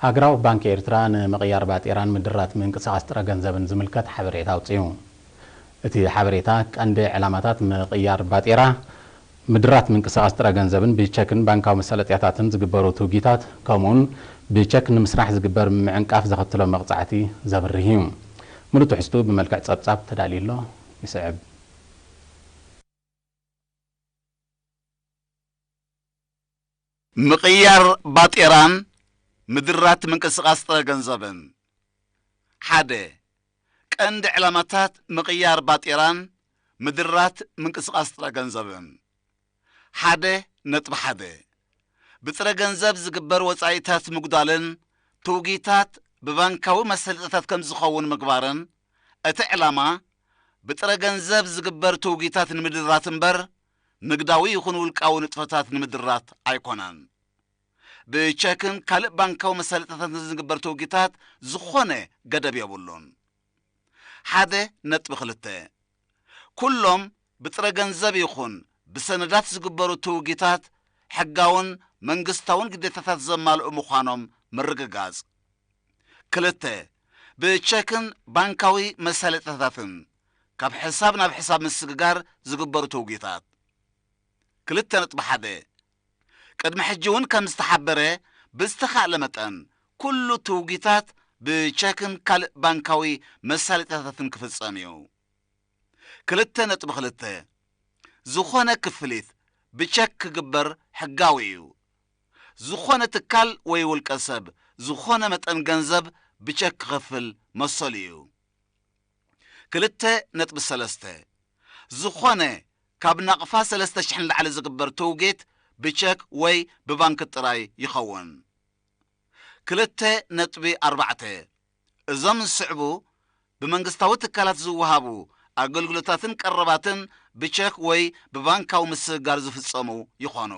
ሃገራዊ ባንኪ ኤርትራ ንምቕያር ባጤራን ምድራት ምንቅስቓስ ጥረ ገንዘብን ዝምልከት ሓበሬታ ኣውጺኡ። እቲ ሓበሬታ፣ ቀንዲ ዕላማታት ምቕያር ባጤራ፣ ምድራት ምንቅስቓስ ጥረ ገንዘብን ብቸክን ባንካዊ መሳለጥያታትን ዝግበሩ ትውጊታት ከምኡ'ውን ብቸክ ንምስራሕ ዝግበር ምዕንቃፍ ዘኸትሎ መቕጻዕቲ ዘብርህ እዩ። ምሉእ ትሕዝትኡ ብመልክዕ ጸብጻብ ተዳልዩ ኣሎ፣ ይስዕብ። ምቕያር ባጤራን ምድራት ምንቅስቓስ ጥረ ገንዘብን ሓደ ቀንዲ ዕላማታት ምቕያር ባጤራን ምድራት ምንቅስቓስ ጥረ ገንዘብን ሓደ ነጥቢ ሓደ ብጥረ ገንዘብ ዝግበር ወጻኢታት ምጉዳልን ትውጊታት ብባንካዊ መሰልጠታት ከም ዝኸውን ምግባርን እቲ ዕላማ ብጥረ ገንዘብ ዝግበር ትውጊታት ንምድራት እምበር ንግዳዊ ይኹን ውልቃዊ ንጥፈታት ንምድራት ኣይኮነን። ብቸክን ካልእ ባንካዊ መሳለጥያታትን ንዝግበር ትውጊታት ዝኾነ ገደብ የብሉን። ሓደ ነጥቢ ክልተ፣ ኩሎም ብጥረ ገንዘብ ይኹን ብሰነዳት ዝግበሩ ትውጊታት ሕጋውን መንግስታውን ግዴታታት ዘማልኡ ምዃኖም ምርግጋጽ። ክልተ፣ ብቸክን ባንካዊ መሳለጥያታትን ካብ ሕሳብ ናብ ሕሳብ ምስግጋር ዝግበሩ ተውጊታት። ክልተ ነጥቢ ሓደ። ቅድሚ ሕጂ'ውን ከም ዝተሓበረ፣ ብዝተኻእለ መጠን ኩሉ ትውጊታት ብቸክን ካልእ ባንካዊ መሳለጥያታትን ክፍጸም እዩ። ክልተ ነጥቢ ክልተ። ዝኾነ ክፍሊት ብቸክ ክግበር ሕጋዊ እዩ። ዝኾነ ትካል ወይ ውልቀ ሰብ ዝኾነ መጠን ገንዘብ ብቸክ ክኸፍል መሰሉ እዩ። ክልተ ነጥቢ ሰለስተ። ዝኾነ ካብ ናቕፋ ሰለስተ ሽሕ ንላዕሊ ዝግበር ትውጌት ብቸክ ወይ ብባንክ ጥራይ ይኸውን። ክልተ ነጥቢ ኣርባዕተ። እዞም ዝስዕቡ ብመንግስታዊ ትካላት ዝወሃቡ ኣገልግሎታትን ቀረባትን ብቸክ ወይ ብባንካዊ ምስግጋር ዝፍጸሙ ይኾኑ።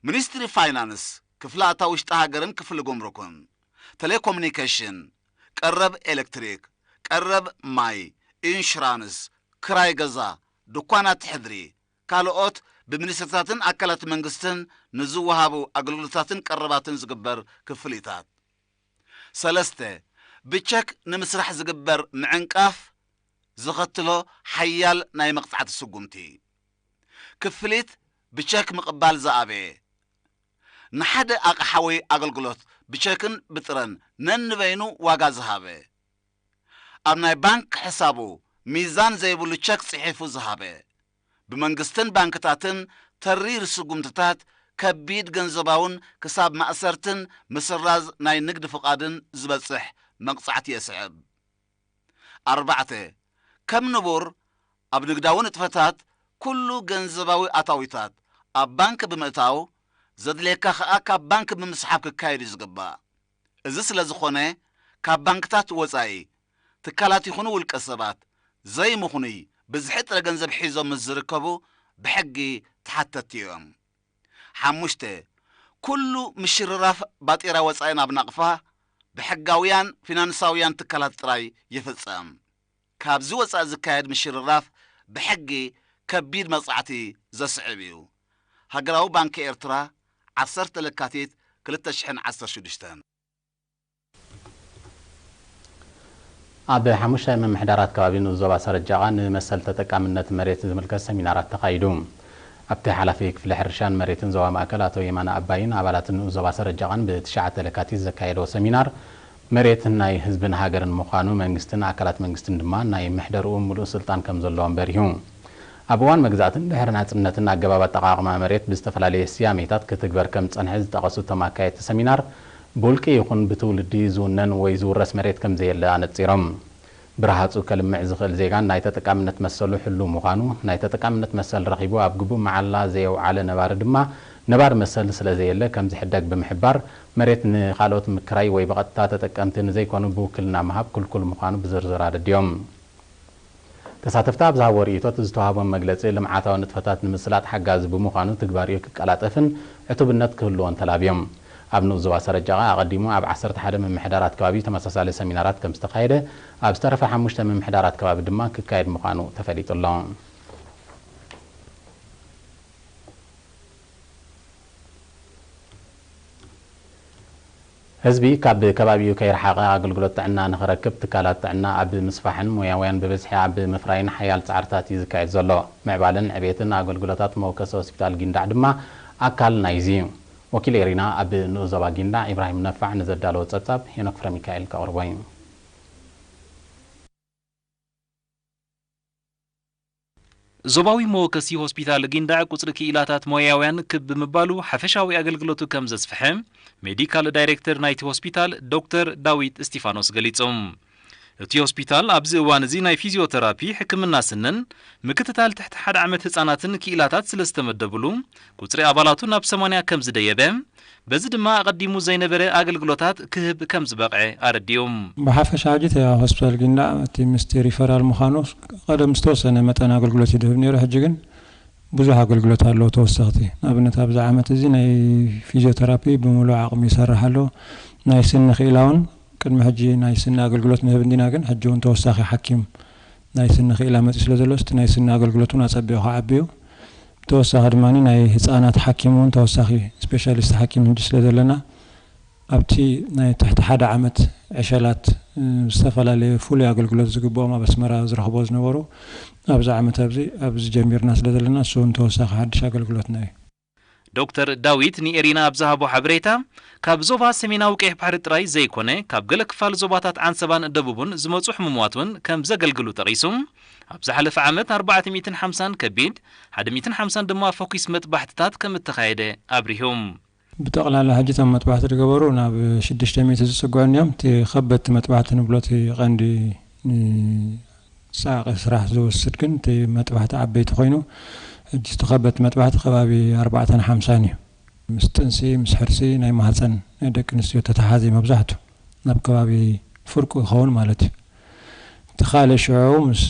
ሚኒስትሪ ፋይናንስ፣ ክፍሊ ኣታዊ ውሽጢ ሃገርን ክፍሊ ጉምሩክን፣ ተሌኮሚኒኬሽን፣ ቀረብ ኤሌክትሪክ፣ ቀረብ ማይ፣ ኢንሹራንስ፣ ክራይ ገዛ፣ ድኳናት ሕድሪ፣ ካልኦት ብሚኒስትሪታትን ኣካላት መንግስትን ንዝወሃቡ ኣገልግሎታትን ቀረባትን ዝግበር ክፍሊታት። ሰለስተ፣ ብቸክ ንምስራሕ ዝግበር ምዕንቃፍ ዘኸትሎ ሓያል ናይ መቕጻዕቲ ስጉምቲ። ክፍሊት ብቸክ ምቕባል ዝኣበየ፣ ንሓደ ኣቕሓ ወይ ኣገልግሎት ብቸክን ብጥረን ነንበይኑ ዋጋ ዝሃበ፣ ኣብ ናይ ባንክ ሕሳቡ ሚዛን ዘይብሉ ቸክ ጽሒፉ ዝሃበ፣ ብመንግስትን ባንክታትን ተሪር ስጉምትታት ከቢድ ገንዘባውን ክሳብ ማእሰርትን ምስራዝ ናይ ንግድ ፍቓድን ዝበጽሕ መቕጻዕቲ የስዕብ። ኣርባዕተ፣ ከም ንቡር ኣብ ንግዳዊ ንጥፈታት ኩሉ ገንዘባዊ ኣታዊታት ኣብ ባንክ ብምእታው ዘድልየካ ከኣ ካብ ባንክ ብምስሓብ ክካየድ እዩ ዝግባእ። እዚ ስለ ዝኾነ ካብ ባንክታት ወጻኢ፣ ትካላት ይኹኑ ውልቀ ሰባት፣ ዘይምኽኑይ ብዝሒ ጥረ ገንዘብ ሒዞም ምስ ዝርከቡ ብሕጊ ተሓተትቲ እዮም። ሓሙሽተ፣ ኩሉ ምሽርራፍ ባጤራ ወጻኢ ናብ ናቕፋ ብሕጋውያን ፊናንሳውያን ትካላት ጥራይ ይፍጸም። ካብዚ ወጻኢ ዝካየድ ምሽርራፍ ብሕጊ ከቢድ መቕጻዕቲ ዘስዕብ እዩ፣ ሃገራዊ ባንኪ ኤርትራ፣ ዓሰርተ ለካቲት ክልተ ሽሕን ዓሰርተ ሽዱሽተን። ኣብ ሓሙሽተ ምምሕዳራት ከባቢ ንኡስ ዞባ ሰረጃቓ ንመሰል ተጠቃምነት መሬት ዝምልከት ሰሚናራት ተኻይዱ። ኣብቲ ሓላፊ ክፍሊ ሕርሻን መሬትን ዞባ ማእከል ኣቶ የማነ ኣባይን ኣባላት ንኡስ ዞባ ሰረጃቓን ብ ትሽዓተ ለካቲት ዘካየድዎ ሰሚናር መሬት ናይ ህዝብን ሃገርን ምዃኑ መንግስትን ኣካላት መንግስትን ድማ ናይ ምሕደርኡ ምሉእ ስልጣን ከምዘለዎም በሪሁ። ኣብ እዋን መግዛእትን ድሕሪ ናጽነትን ኣገባብ ኣጠቓቕማ መሬት ብዝተፈላለየ ስያሜታት ክትግበር ከምዝጸንሐ ዝጠቐሱ እቶም ኣካየድቲ ሰሚናር ብውልቂ ይኹን ብትውልዲ ዝውነን ወይ ዝውረስ መሬት ከምዘየለ ኣነጺሮም። ብረሃጹ ከልምዕ ዝኽእል ዜጋን ናይ ተጠቃምነት መሰሉ ሕሉው ምዃኑ፣ ናይ ተጠቃምነት መሰል ረኺቡ ኣብ ግቡእ መዓላ ዘየውዓለ ነባሪ ድማ ነባሪ መሰል ስለዘየለ ከምዝሕደግ ብምሕባር፣ መሬት ንኻልኦት ምክራይ ወይ ብቐጥታ ተጠቀምቲ ንዘይኮኑ ብውክልና ምሃብ ክልኩል ምዃኑ ብዝርዝር ኣረዲኦም። ተሳተፍቲ ኣብ ዝሃብዎ ርኢቶ እቲ ዝተውሃቦም መግለፂ ልምዓታዊ ንጥፈታት ንምስላጥ ሓጋዚ ብምዃኑ ትግባሪኡ ክቀላጠፍን ዕቱብነት ክህልዎን ተላብዮም። ኣብ ንኡስ ዞባ ሰረጀቓ ኣቐዲሙ ኣብ ዓሰርተ ሓደ ምምሕዳራት ከባቢ ተመሳሳሊ ሰሚናራት ከምዝተኻየደ ኣብ ዝተረፋ ሓሙሽተ ምምሕዳራት ከባቢ ድማ ክካየድ ምዃኑ ተፈሊጡ ኣሎ። ህዝቢ ካብ ከባቢኡ ከይረሓቐ ኣገልግሎት ጥዕና ንኽረክብ ትካላት ጥዕና ኣብ ምስፋሕን ሞያውያን ብብዝሒ ኣብ ምፍራይን ሓያል ፃዕርታት እዩ ዝካየድ ዘሎ። ምዕባለን ዕቤትን ኣገልግሎታት መወከሲ ሆስፒታል ጊንዳዕ ድማ ኣካል ናይዚ እዩ። ወኪል ኤሪና ኣብ ንኡስ ዞባ ጊንዳዕ ኢብራሂም ነፋዕ ንዘዳለዎ ፀብፃብ ሄኖክ ፍረሚካኤል ከቕርቦ እዩ። ዞባዊ መወከሲ ሆስፒታል ጊንዳዕ ቁጽሪ ክኢላታት ሞያውያን ክብ ብምባሉ ሓፈሻዊ ኣገልግሎቱ ከም ዘስፍሐ ሜዲካል ዳይሬክተር ናይቲ ሆስፒታል ዶክተር ዳዊት እስቲፋኖስ ገሊጹ። እቲ ሆስፒታል ኣብዚ እዋን እዚ ናይ ፊዝዮተራፒ፣ ሕክምና ስንን ምክትታል ትሕቲ ሓደ ዓመት ህጻናትን ክኢላታት ስለ ዝተመደብሉ ቁጽሪ ኣባላቱ ናብ ሰማንያ ከም ዝደየበ በዚ ድማ ኣቐዲሙ ዘይነበረ ኣገልግሎታት ክህብ ከምዝበቕዐ ኣረዲኡ። ብሓፈሻ ሕጂ እቲ ሆስፒታል ጊንዳዕ እቲ ምስቲ ሪፈራል ምዃኑ ቀደም ዝተወሰነ መጠን ኣገልግሎት እዩ ዝህብ ነይሩ፣ ሕጂ ግን ብዙሕ ኣገልግሎት ኣለዎ ተወሰኽቲ። ንኣብነት ኣብዚ ዓመት እዚ ናይ ፊዝዮተራፒ ብምሉእ ዓቕሚ ይሰርሕ ኣሎ፣ ናይ ስኒ ክኢላውን ቅድሚ ሕጂ ናይ ስኒ ኣገልግሎት ንህብ እንዲና ግን ሕጂውን ተወሳኺ ሓኪም ናይ ስኒ ክኢላ መፂኡ ስለ ዘሎ እስቲ ናይ ስኒ ኣገልግሎት እውን ኣፀቢቑ ክዓቢዩ ብተወሳኺ ድማ ናይ ህፃናት ሓኪም እውን ተወሳኺ ስፔሻሊስት ሓኪም ሕጂ ስለ ዘለና ኣብቲ ናይ ትሕቲ ሓደ ዓመት ዕሸላት ዝተፈላለየ ፍሉይ ኣገልግሎት ዝግበኦም ኣብ ኣስመራ ዝረኽብዎ ዝነበሩ ኣብዚ ዓመት ኣብዚ ኣብዚ ጀሚርና ስለ ዘለና እሱ እውን ተወሳኺ ሓድሽ ኣገልግሎትና እዩ። ዶክተር ዳዊት ንኤሪና ኣብ ዝሃቦ ሓበሬታ፣ ካብ ዞባ ሰሜናዊ ቀይሕ ባሕሪ ጥራይ ዘይኰነ፣ ካብ ገለ ክፋል ዞባታት ዓንሰባን ደቡብን ዝመጹ ሕሙማት እውን ከም ዘገልግሉ ጠቒሱ፣ ኣብ ዝሓለፈ ዓመት ኣርባዕተ ሚእትን ሓምሳን ከቢድ፣ ሓደ ሚእትን ሓምሳን ድማ ፈኲስ መጥባሕትታት ከም እተኻየደ ኣብሪሁ። ብጠቕላላ ሕጂ እቶም መጥባሕቲ ዝገበሩ ናብ ሽዱሽተ ሚእቲ ዝጽግዑ እንዮም። እቲ ከበድቲ መጥባሕቲ ንብሎ እቲ ቀንዲ ንጻዕቒ ስራሕ ዝወስድ ግን እቲ መጥባሕቲ ዓበይቲ ኮይኑ ሕጂ እቲ ከበድቲ መጥባሕቲ ከባቢ ኣርባዕተን ሓምሳን እዩ። ምስ ጥንሲ ምስ ሕርሲ ናይ ማህጸን ደቂ ኣንስትዮ ተተሓሓዝ እዩ መብዛሕቱ ኣብ ከባቢ ፍርቁ ይኸውን ማለት እዩ። እቲ ካልእ ሽዑ ምስ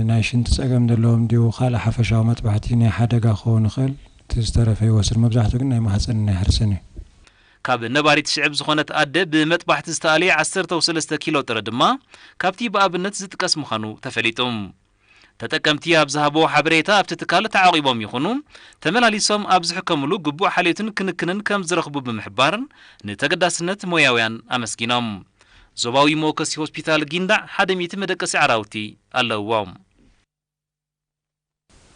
ናይ ሽንቲ ጸገም ዘለዎም ድዩ ካልእ ሓፈሻዊ መጥባሕቲ ናይ ሓደጋ ክኸውን ይኽእል እቲ ዝተረፈ ይወስድ መብዛሕቱ ግን ናይ ማህጸንን ናይ ሕርስን እዩ። ካብ ነባሪት ሽዕብ ዝኾነት ኣደ ብመጥባሕቲ ዝተኣልየ ዓሰርተው ሰለስተ ኪሎ ጥረ ድማ ካብቲ ብኣብነት ዝጥቀስ ምዃኑ ተፈሊጡ። ተጠቀምቲ ኣብ ዝሃብዎ ሓበሬታ ኣብቲ ትካል ተዓቚቦም ይኹኑ ተመላሊሶም ኣብ ዝሕከምሉ ግቡእ ሓልዮትን ክንክንን ከም ዝረኽቡ ብምሕባር ንተገዳስነት ሞያውያን ኣመስጊኖም። ዞባዊ መወከሲ ሆስፒታል ጊንዳዕ ሓደ ሚእቲ መደቀሲ ዓራውቲ ኣለውዎ።